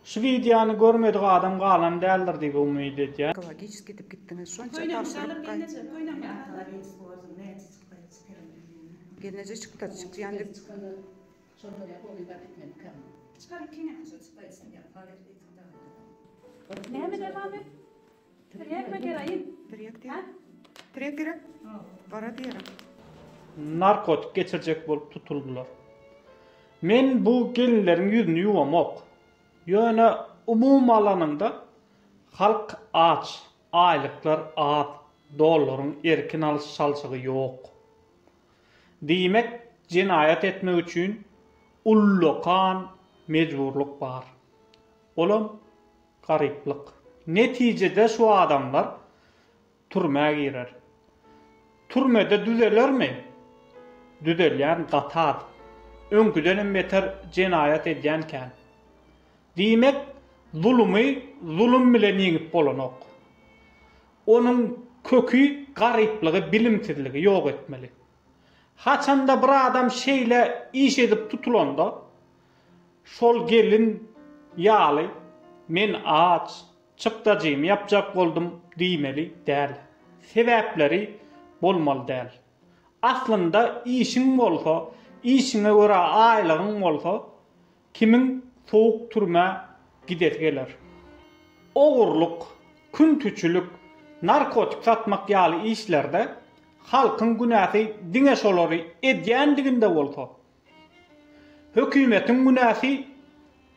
Şu wideony görmedik adam galan däldir diýip umyt edýän. Ekologiçeski edip gitdiňiz şonça tabşyryk Gelneje çykda çykýan dek Çykar ýekeňem çykda isleýän. Tirýek mi geraýin? Tirýek diýer. Tirýek gerek. Gara diýer. Narkotik geçirjek bolup tutuldylar. Men bu gelinleriň ýüzüni ýuwamok. Ýöne umumy alanyňda halk aç, aýlyklar az, dollaryň erkin alyş çalşygy ýok. Diýmek jenaýat etmek üçin ullakan mejburlyk bar. Olam Garyplyk. Netijede şu adamlar türmä girer. Türmede düzelermi? Düzelýän gaty az. Öňküdenem beter jenaýat edýän kän. Diýmek, zulumy zulum bilen ýeňip bolanok. Onuň köki garyplygy, bilimsizligi ýok etmeli. Haçanda bir adam şeýle iş edip tutulanda, Şol gelin ýaly men aç çykdajymy ýapjak boldum diýmeli däl. Sebäpleri bolmaly däl. Aslynda işiň bolsa, işiňe görä aýlygyň bolsa, kimiň sowuk türmä gidesi geler? Ogurlyk, küntiçilik, narkotik satmak ýaly işlerde halkyň günäsi diňe şolary edýändiginde bolsa, Hökümetiň günäsi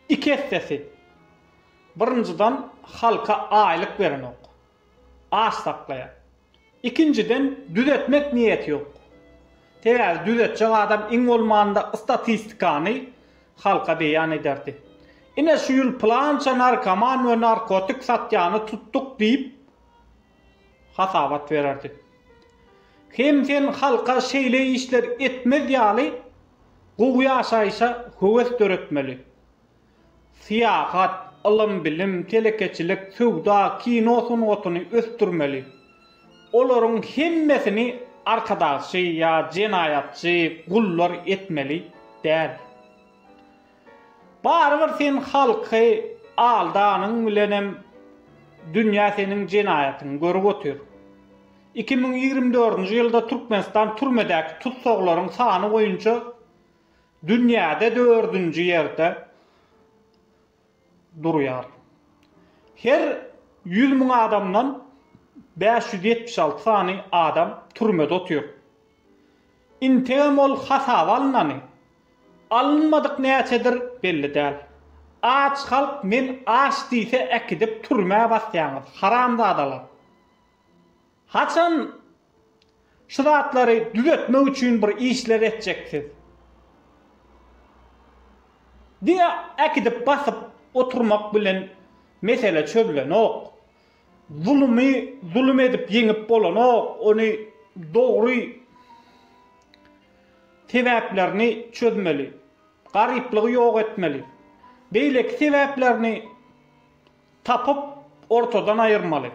iki essesi. Birinjiden halka aýlyk berenok. Aç saklaýar. Ikinjiden düzetmek niýeti ýok. Sebäbi düzetjek adam iň bolmanda statistikany halka beýan ederdi. Ine şu ýyl plança narkoman we narkotik satýany tutduk diýip, hasabat bererdi. Hem sen halka şeýle işler etmez ýaly gowy ýaşaýşa höwes döretmeli. Syýahat, ylym-bilim, telekeçilik, söwda, kino sungatyny ösdürmeli. Olaryň hemmesini arkadagçy ýa jenaýatçy, gullar etmeli däl. Barybir sen halky aldanyň bilenem dünýä seniň jenaýatyňy görüp otyr. Iki müň ýigrimi dördünji ýylda Türkmenistan türmedäki tussaglaryň sany boýunça dünýäde dördünji ýerde durýar. Her ýüz müň adamdan bäş ýüz ýetmiş alty sany adam türmede otyr. Integem ol hasaba alynany. Alynmadyk näçedir belli däl. Aç halk men aç diýse äkidip türmä basýaňyz haramzadalar. Haçan şu zatlary düzetmek üçin bir işler etjeksiz. Diňe äkidip basyp oturmak bilen mesele çözlenok. Zulumy zulum edip ýeňip bolanok ony dogry sebäplerini çözmeli, garyplygy ýok etmeli, beýleki sebäplerini tapyp ortadan aýyrmaly.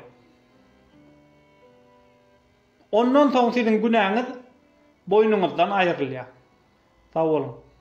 Ondan soň siziň günäňiz boýnuňyzdan aýrylýar. Sag boluň.